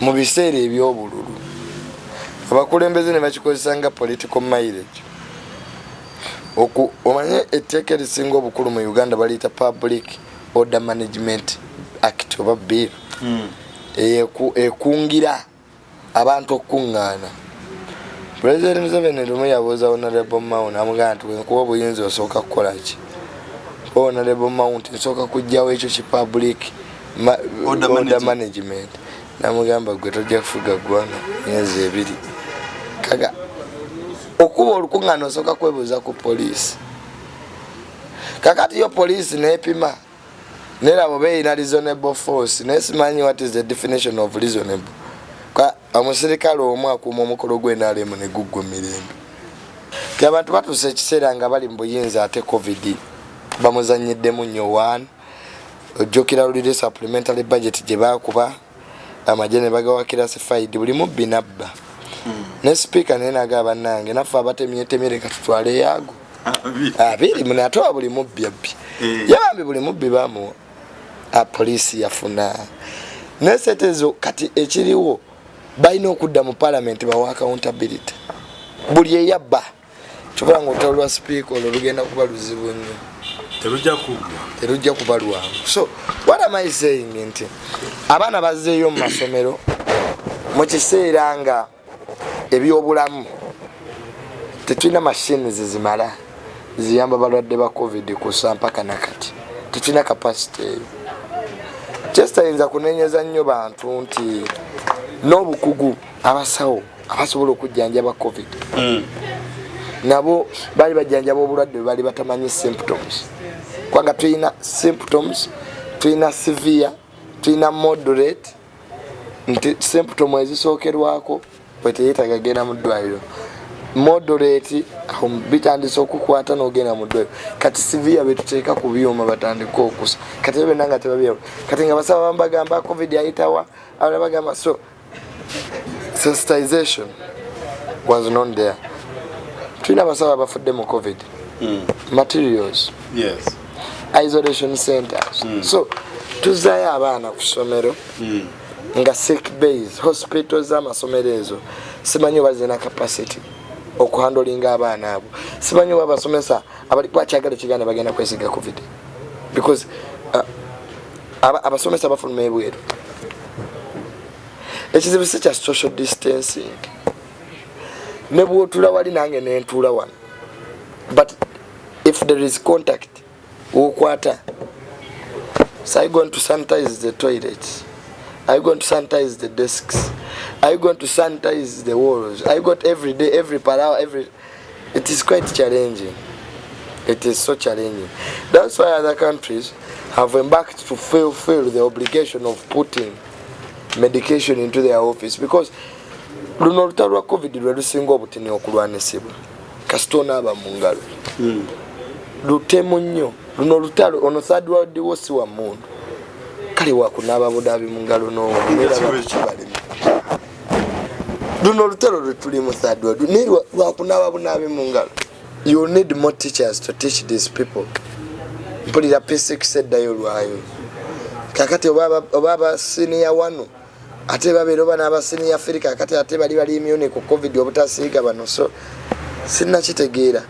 mu biseera eby'obululu abakulembeze ne bakikozesa nga political mileage omanye etteeka erisinga obukulu mu uganda baliyita public order management act oba bill hmm. ekungira abantu okukuŋŋaana pulezidenti museveni lumu yabuuza honorable mount amugamba nti wenkuba obuyinza osooka kukolaki honorable mount nsooka kujjawo ekyo ki public order management, management. namugamba gwe tojja kufuga ggwanga myezi ebiri kaga okuba olukuŋŋaana osooka kwebuuza ku poliisi kakati yo poliisi neepima nerabo beeyina reasonable force naye simanyi what is the definition of reasonable omusirikale omu akuuma omukolo gwenalemu neguggwa emirembe ti abantu batuusa ekiseera nga bali mu buyinza ate covid bamuzanyiddemu nnyo one ojjukira lulire supplementary budget gye baakuba amagye ne bagawakira sifaidi buli mubbi nabba hmm. ne sipiika naye naga bannange naffe abatemyetemye leka tutwale yaago abiri mune ate wa buli mubbi abbi eh. yabambi buli mubbi bamuwa apoliisi yafuna naye sente ezo kati ekiriwo balina okudda mu palamenti bawa accountability buli eyabba kyova nga olutalo lwa sipiika olwo lugenda kuba luzibu nnyo terujja kuba lwangu so what am i saying nti abaana bazzeeyo mu masomero mu kiseera nga ebyobulamu tetulina mashini zezimala ziyamba balwadde ba covid kusa mpaka nakati tetulina kapasite eyo kyesitayinza kunenyeza nnyo bantu nti n'obukugu abasawo abasobola okujjanjaba covid mm. nabo baali bajjanjaba obulwadde bwe baali batamanyi symptoms kubanga tulina symptoms tulina severe tulina moderate nti symptom ezisookerwako bwe teyetaaga genda mu ddwaliro moderate um, bitandise okukwata nogenda mudwe kati sivia betuteeka ku byuma batandika okusa kati ebyo benanga tebabyeo kati nga basaba bambagamba covid ayitawa abala bagamba so sensitization was not there tulina abasawo abafudde mu covid mm. materials yes. isolation centers mm. so tuzayo abaana ku somero mm. nga sick base hospital zamasomero ezo simanyi oba zirina capacity okuhandolinga abaana abo simanyi oba abasomesa abali kwakyagala ekiganda bagenda kwesiga covid because uh, abasomesa bafuluma ebweru ekizibu si kya social distancing ne bwotula wali nange nentuula wano but if there is contact wokwata so i going to sanitize the toilet i going to sanitize the desks i going to sanitize the walls i got every day every parawa every It is quite challenging. It is so challenging. That's why other countries have embarked to fulfill the obligation of putting medication into their office because luno olutalo lwa covid lwe lusinga obutini okulwanisibwa kasita onaaba mu ngalo hmm. lutemu nnyo luno olutalo ono third world wo si wa mundu kale wakunaaba budaabi mu ngalo n'owo era bakukibalemu luno olutalo lwetulimu third world naye lwakunaaba bunaabi mu ngalo you need more teachers to teach these people mpulira p6 eddayo lwayo kakati oba abasiniya wano ate babeera oba n'abasiniya firi kakati ate bali bali imyuni ku covid obutasiiga bano so sinnakitegeera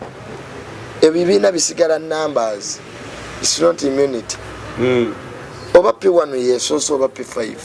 ebibiina bisigala numbers its not immunity mm. oba p1 yesoose oba p5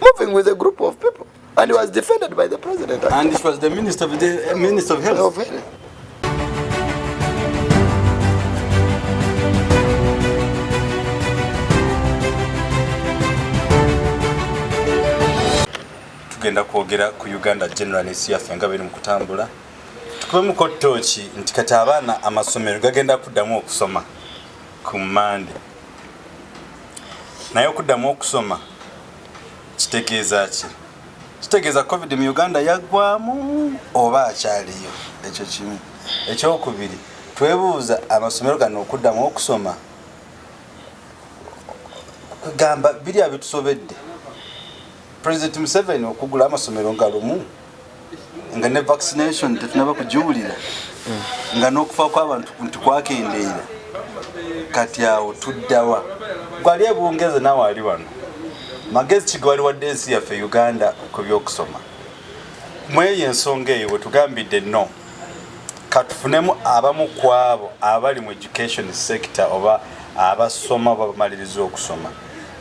moving with a group of people and he was defended by the president and it was the minister of the uh, minister of health, of health. tugenda kwogera ku uganda general ensi yaffe nga biri mu kutambula tukubemukko tooki nti kati abaana amasomero gagenda kuddamu okusoma ku mande naye okuddamu okusoma kitegeeza ki kitegeeza covid mu uganda yaggwamu oba akyaliyo ekyo kimu ekyokubiri twebuuza amasomero gano okuddamu okusoma gamba biri abitusobedde president museveni okugula amasomero nga lumu nga ne vaccination tetunaba kugiwulira nga n'okufa kw'abantu nti kwakendeera kati awo tuddawa gwali ebungeze nawe ali wano magezi kigwali wadde ensi yaffe uganda ku byokusoma mweyo ensonga eyo wetugambidde no katufunemu abamu kwabo abali mu education sector oba abasoma oba bamaliriza okusoma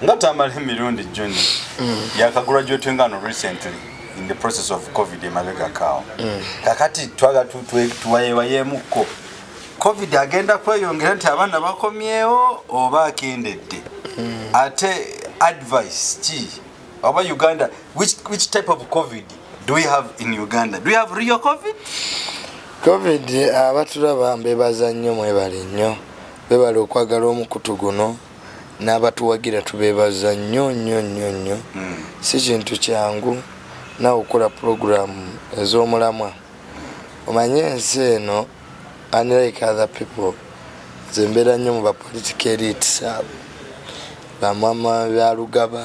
nga tamala emirundi joni mm. yakagula gyotwengano recently in the process of covid emabega kawo mm. kakati twaga tuwayewayemuko covid agenda kweyongera nti abaana bakomyewo oba akendedde mm. ate advice ki oba uganda which, which type of covid do we have in uganda do we have real covid covid abatulaba mbebaza nnyo mwebale nnyo bebale okwagala omukutu guno n'abatuwagira tubeebaza nnyo nnyo nnyo nnyo hmm. si kintu kyangu nawe okukola pulogulaamu ez'omulamwa omanye ensi eno unlike other people nze mbeera nnyo mu bapolitika elitis abo bamama byalugaba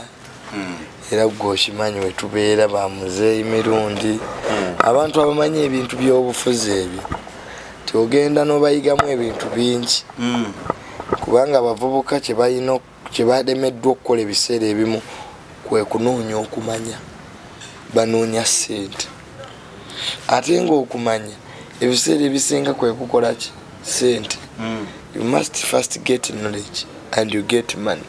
hmm. era gwe okimanyi wetubeera bamuzeeyi mirundi hmm. abantu abamanyi ebintu byobufuzi ebyo tiogenda nobayigamu ebintu bingi hmm. kubanga abavubuka kyebalina kyebademeddwa okukola ebiseera ebimu kwekunoonya okumanya banoonya sente ate ngaokumanya ebiseera ebisinga kwekukolaki sente you must first get knowledge and you get money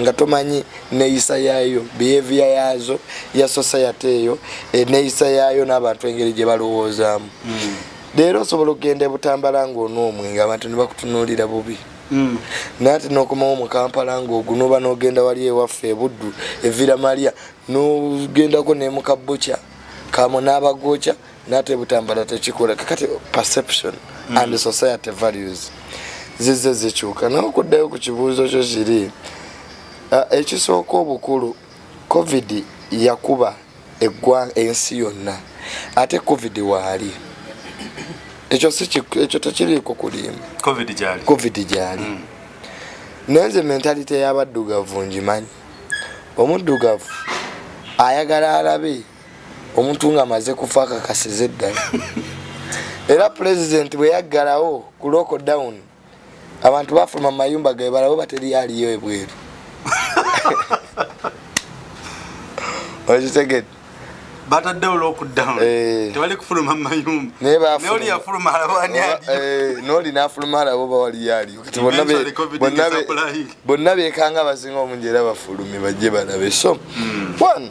nga tomanyi neyisa yaayo behavior yaazo ya society eyo eneyisa yaayo n'abantu engeri gye balowoozaamu hmm. leero osobola okugenda ebutambala ngaonoomwe nga abantu ne bakutunuulira bubi hmm. naye ate n'okomawo mu kampala ngaogunoba n'ogenda wali ewaffe ebuddu evira malya n'ogendako ne mukabbuca kamo n'abagooca nate butambala tekikola kakati perception mm. and society values zizze zikyuka nawe okuddayo ku kibuuzo kyo kiri ah, ekisooka obukulu covid yakuba eggwanga ensi yonna ate covid waali ekyo ekyo tekiriiko kulimba covid gyali mm. naye nze mentalite y'abaddugavu ngimanyi omuddugavu ayagala alabe omuntu nga amaze kufa akakasiza eddala era pulezidenti bwe yaggalawo ku loko down abantu bafuluma mu mayumba gae balabo bateri aliyo ebweru okitegede bataddewo lockdown eh. tewali kufuluma mumayumba noli yafuluma alabani eh, noli nafuluma alabo bawaliyo aliyo kati bonna bekanga abasinga omungi era bafulume bajje balabe so hmm. one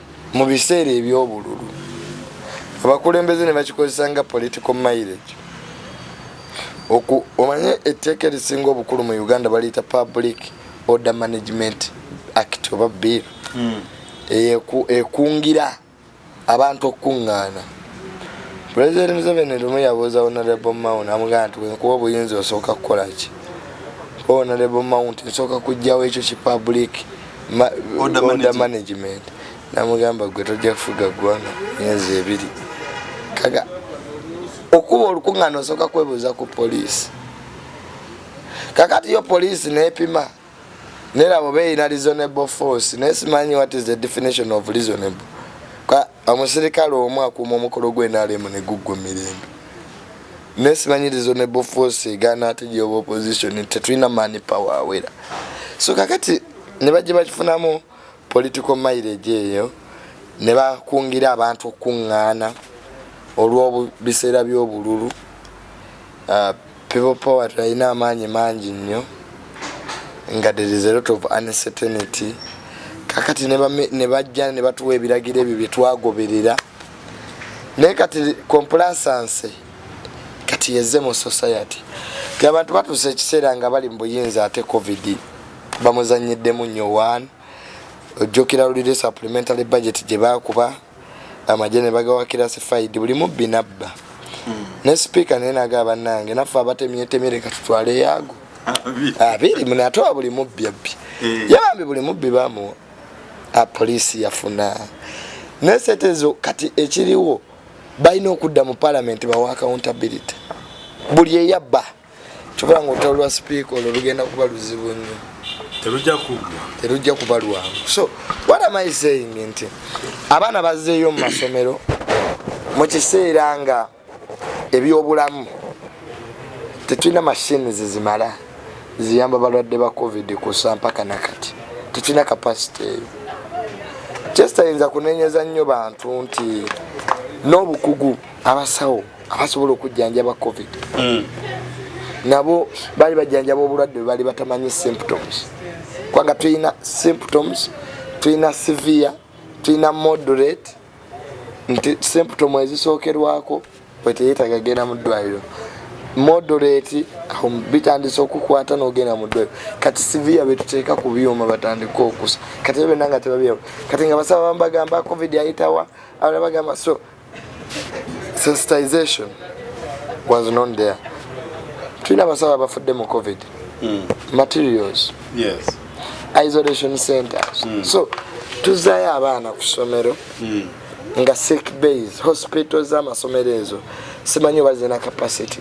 mu biseera eby'obululu abakulembeze ne bakikozesa nga political mileage omanye etteeka erisinga obukulu mu uganda baliyita public order management act oba bill hmm. ekungira abantu okukuŋŋaana pulezidenti museveni lumu yabuuza honorable mount amugamba nti wenkuba obuyinza osooka kukolaki honorable mount nsooka kujjawo ekyo ki public order management namugamba gwe tojja kufuga ggwanga myezi ebiri kaga okuba olukuŋŋaana osooka kwebuuza ku poliisi kakati yo poliisi neepima nerabo beeyina reasonable force naye simanyi what is the definition of reasonable omusirikale omu akuuma omukolo gwenalemu neguggwa emirembe nesibanyirizo ne bofosi egaana ate gyoba opposition tetulina mani power awera so kakati nebajja bakifunamu political mileage eyo nebakungira abantu okukuŋŋaana olw'biseera by'obululu uh, People power tulina amaanyi mangi nnyo nga there is a lot of uncertainty kakati ne bajja ne batuwa ebiragiro ebyo bye twagoberera naye kati complasanse kati yeze mu society ti abantu batuusa ekiseera nga bali mu buyinza ate covid bamuzanyiddemu nnyo one ojjukira lulire supplementary budget gye baakuba amagye ne bagawakira sifaidi buli mubbi nabba hmm. ne sipiika naye naga bannange naffe abatemyetemye leka tutwale yaago abiri mune ate wa buli mubbi abbi eh. yabambi buli mubbi bamuwa ah, poliisi yafuna naye setezo kati ekiriwo balina okudda mu palamenti bawa accountability buli eyabba kyova nga olutalo lwa sipiika olwo lugenda kuba luzibu nnyo terujja kuba lwangu so what am i saying nti abaana bazzeeyo mu masomero mu kiseera nga ebyobulamu tetulina mashini zizimala ziyamba balwadde ba covid kusa mpaka nakati tetulina kapasite eyo kyesitayinza kunenyeza nnyo bantu nti n'obukugu abasawo abasobola okujjanjaba covid mm. nabo baali bajjanjaba obulwadde bwe baali batamanyi symptoms kubanga tulina symptoms tulina severe tulina moderate nti symptom ezisookerwako bweteyetaga genda mu ddwaliro moderate bitandise okukwata nogenda mu ddwaliro kati severe betuteeka ku byuma batandika okusa kati ebyo byonna nga tebabyawo kati nga basaba bambagamba covid ayitawa abala bagamba so sensitization was not there tulina abasawo abafudde mu covid mm. materials yes. isolation centers mm. so tuzayo abaana ku somero mm. nga sick base hospital zamasomero ezo simanyi oba zirina capacity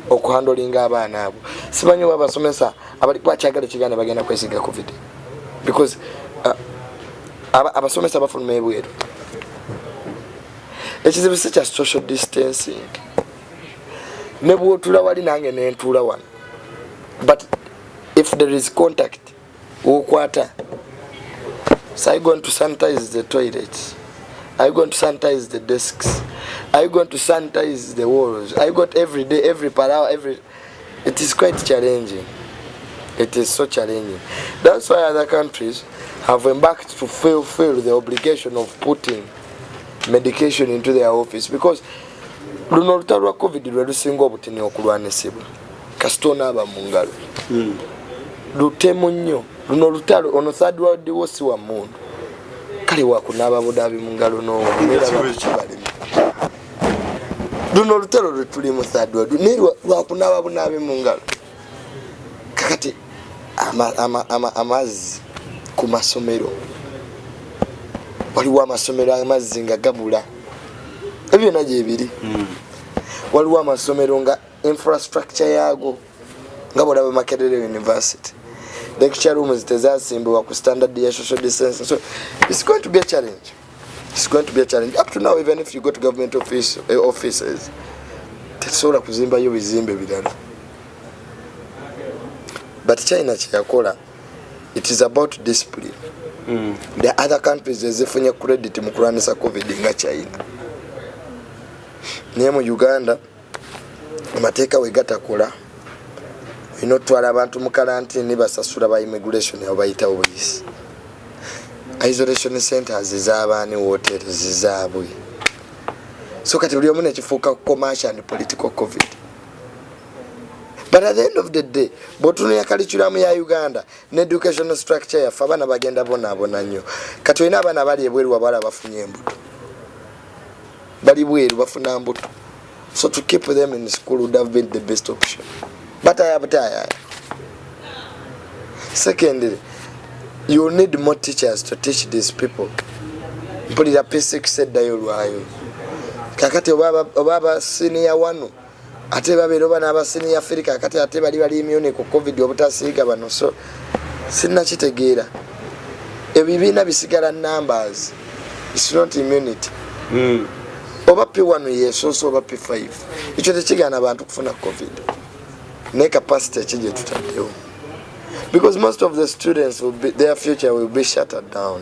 okuhandolinga abaana abo simanyi oba abasomesa abali kwakyagala ekiganda bagenda kwesiga covid because uh, abasomesa aba bafuluma ebweru ekizibu si kya social distancing ne bwotula wali nange nentuula wano but if there is contact wokwata so i going to sanitize the toilet i going to sanitize the desks i going to sanitize the walls i got every day every parawa every It is quite challenging. It is so challenging. That's why other countries have embarked to fulfill the obligation of putting medication into their office because luno olutalo lwa covid lwe lusinga obutini okulwanisibwa kasita onaaba mu ngalo hmm. lutemu nnyo luno olutalo ono third world wo si wa mundu kale wakunaaba budaabi mu ngalo n'owo era bakukibalemu luno olutalo lwetulimu thadwadu naye lwakunaaba bunaabe mu ngalo kakati amazzi ku masomero waliwo amasomero amazzi nga gabula ebyo byona gyebiri hmm. waliwo amasomero nga infrastructure yaago nga bwolaba makerere university lecture rooms tezasimbibwa ku standard ya social distance so it's going to be a challenge It's going to be a challenge. Up to now, even if you go to government office, uh, offices, tetusobola kuzimbayo bizimbe birala. But China kyeyakola, it is about discipline. Mm. The other countries ezifunye credit mu kulwanyisa COVID nga China. Naye mu Uganda amateeka we gatakola olina otutwala abantu mu kalantini basasula ba immigration abo bayita obuyisi isolation centers ezabaani woteri zizaabwe so kati buli omu nekifuuka commercial and political covid but at the end of the day bwotunula kalikulamu ya uganda ne educational structure yaffe abaana bagenda bonaabona nnyo kati olina abaana bali ebweru wabala bafunye embuto bali bweru bafuna mbuto so to keep them in school would have been the best option but i have tired secondly you need more teachers to teach these people mpulira p6 eddayo lwayo kakati oba aba siniya wano ate babeera oba n'abasiniya afirika kati ate bali bali imyuni ku covid obutasiiga bano so sinnakitegeera ebibiina bisigala numbers its not immunity mm. oba p1 yesoose oba p5 ekyo tekigaana bantu kufuna covid naye capacity eki gyetutaddewo because most of the students be, their future will be shattered down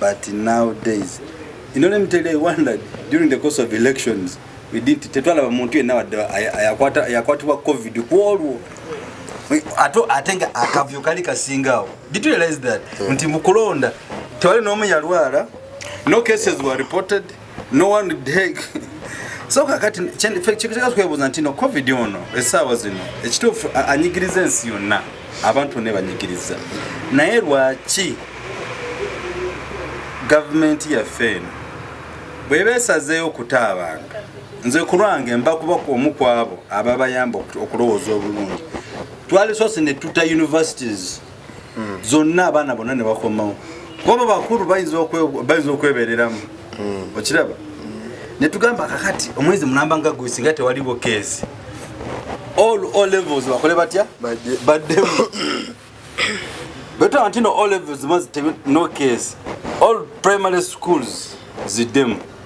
But now days, you know, let me tell you, I wondered during the course of elections, we didn't, tetwalaba muntu yenna wadde yakwatibwa covid kwolwo ate nga akavuyo kali kasingaawo did you realize that hmm. nti mukulonda tewali n'omu yalwala no cases were reported no one would take so kakati kyekitegeza twebuuza nti no covid ono essaawa zino ekituufu anyigiriza ensi yonna abantu ne banyigiriza naye lwaki gavumenti yaffe eno bweba esazeeyo okuta abantu nze kulwange mba kuba omu kwabo ababayamba okulowooza obulungi twalisoose ne tuta universities hmm. zonna abaana bonna ne bakomawo kuba bakulu bayinza okwebereramu hmm. okiraba ne tugamba kakati omwezi mulamba nga gwe singa tewaliwo keesi all o levels bakole batya baddemu betaba ntino o levels mazi no keesi all primary schools ziddemu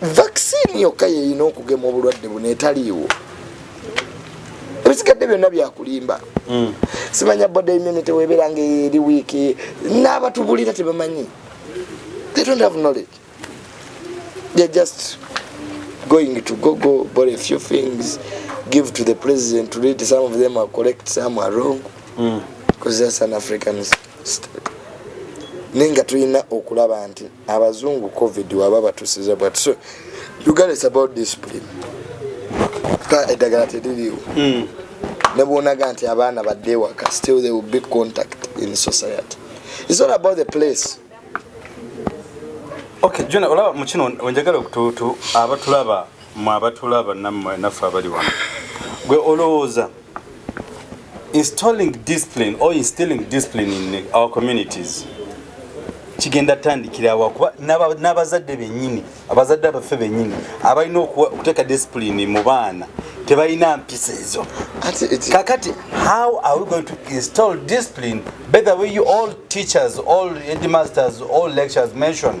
vaccine yokka yeyina okugema obulwadde buno etaliiwo ebisigadde byonna byakulimba hmm. simanya body immunity webeera nga eri wiiki n'abatubulira tebamanyi they don't have knowledge they're just going to google but a few things give to the president to read some of them are correct some are wrong because mm. that's an african state naye nga tulina okulaba nti abazungu covid waba batusiza but so you got is about discipline ka edagala tediliwo mm. nebwonaga nti abaana badde waka still they will be contact in society it's not about the place okay jona olaba mukino onjagala abatulaba mwe abatulaba nammwe naffe abali wano gwe olowooza installing discipline or instilling discipline in our communities kigenda tandikirawa kuba n'abazadde benyini abazadde abaffe benyini abalina okuteeka discipline mu baana tebalina mpisa ezo kakati how are we going to install discipline better way you all teachers all headmasters all lectures mentioned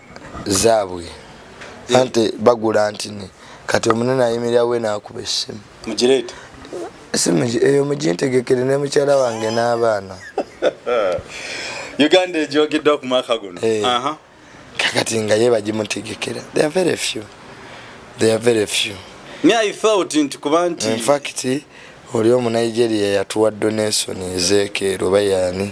zaabwe eh. ante bagula ntini kati omunene ayimirira we naakuba essimu mugireete esimu eyo mugintegekere ne mukyala wange n'abaana uganda ejogeddwa ku mwaka guno eh. kakati nga ye bagimutegekera they are very few they are very few me i thought nti kuba nti in fact oli omu nigeria yatuwa donation ezekeero bayani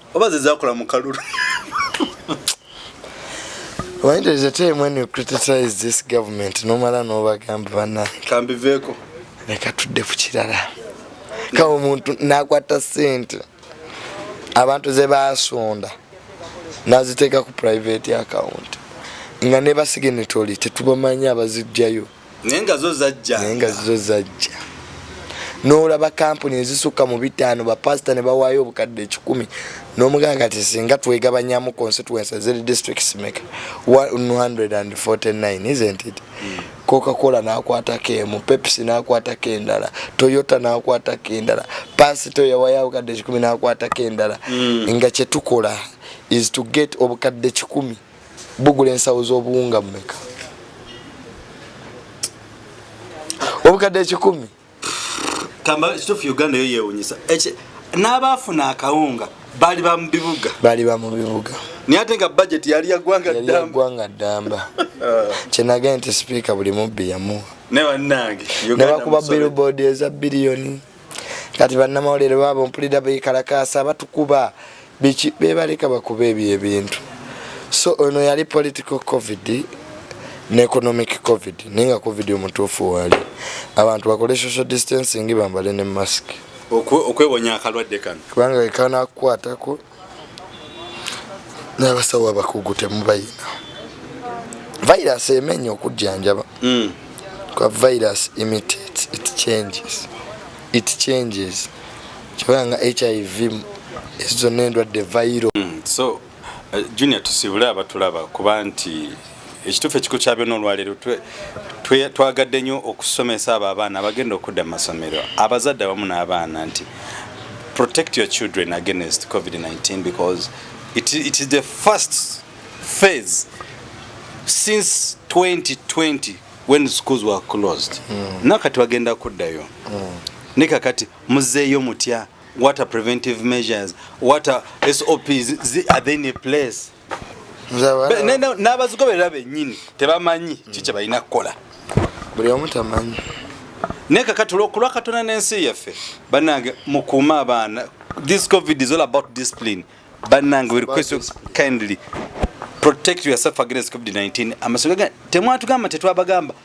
oba zezakola mu kalulu Why does it time when you criticize this government nomala nobagamba bana kambiveeko leka tudde ku kirala ka omuntu nakwata sente abantu ze basonda naziteeka ku private account nga ne basignatory tetubamanyi abazijjayo naye nga zo zajja naye nga zo zajja n'olaba kampuni ezisukka mu bitaano bapasita ne bawaayo obukadde ekikumi n'omuganga ti singa twegabanyamu constituency ziri district simeka 149 isn't it hmm. cocacola n'akwatako emu pepsi n'akwatako endala toyota n'akwatako endala pasito yawayo obukadde ekikumi n'akwatako endala hmm. nga kyetukola is to get obukadde kikumi bugula ensawo z'obuwunga mumeka obukadde ekikumi kamba kitufu uganda yo yewunyisa n'abaafuna akawunga baali ba mu bibuga baali ba mu bibuga naye ate nga bajeti yali yagwanga ddambagwanga ddamba kyenagee nti sipiika buli mubbi yamuwa nebanange nebakuba billboard eza biliyoni kati bannamawulire baabo mpulira bekalakaasa batukuba biki bebaleka bakuba ebyo ebintu so ono yali political covid ne economic covid naye nga covid omutuufu waali abantu bakole social distancing bambale ne mask okwewonya akalwadde kano kubanga ekanakukwatako n'abasawo abakugu temubayina virus emenya okujjanjaba mm. kwa virus imitates it changes it changes kibanga hiv ezo zonna endwadde viral mm. so uh, junior tusibule abatulaba kuba nti ekituufu ekikulu kya byonna olwaleero twagadde nnyo okusomesa abo abaana abagenda okudda mu masomero abazadde abamu n'abaana nti protect your children against covid-19 because it, it is the first phase since 2020 when schools were closed mm. nakati wagenda kuddayo mm. ne kakati muzeeyo mutya what are preventive measures what are sops are they in a place n'abazigoberera bennyini tebamanyi ki kye balina kukola buli omu tamanyi naye kakati olwokulwa katonda n'ensi yaffe banange mukuume abaana this covid is all about discipline banange we request you kindly protect yourself against covid-19 amasomero temwatugamba tetwabagamba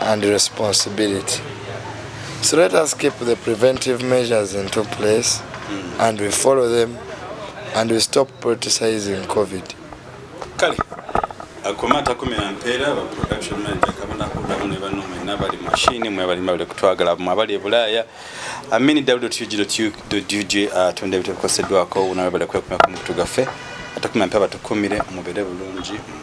and responsibility. So let us keep the preventive measures into place mm. and we follow them and we stop politicizing COVID. Kale, akoma takumira mpeera ba production manager kabona kudamu ne bano mwe nabali machine mwe bali mabule kutwagala mwe abali ebulaya amini www.ug.ug atonda ebitabo kosedwako unawe bali kwekumya ku mutu gaffe atakumya mpeera batukumire mubere bulungi mwe.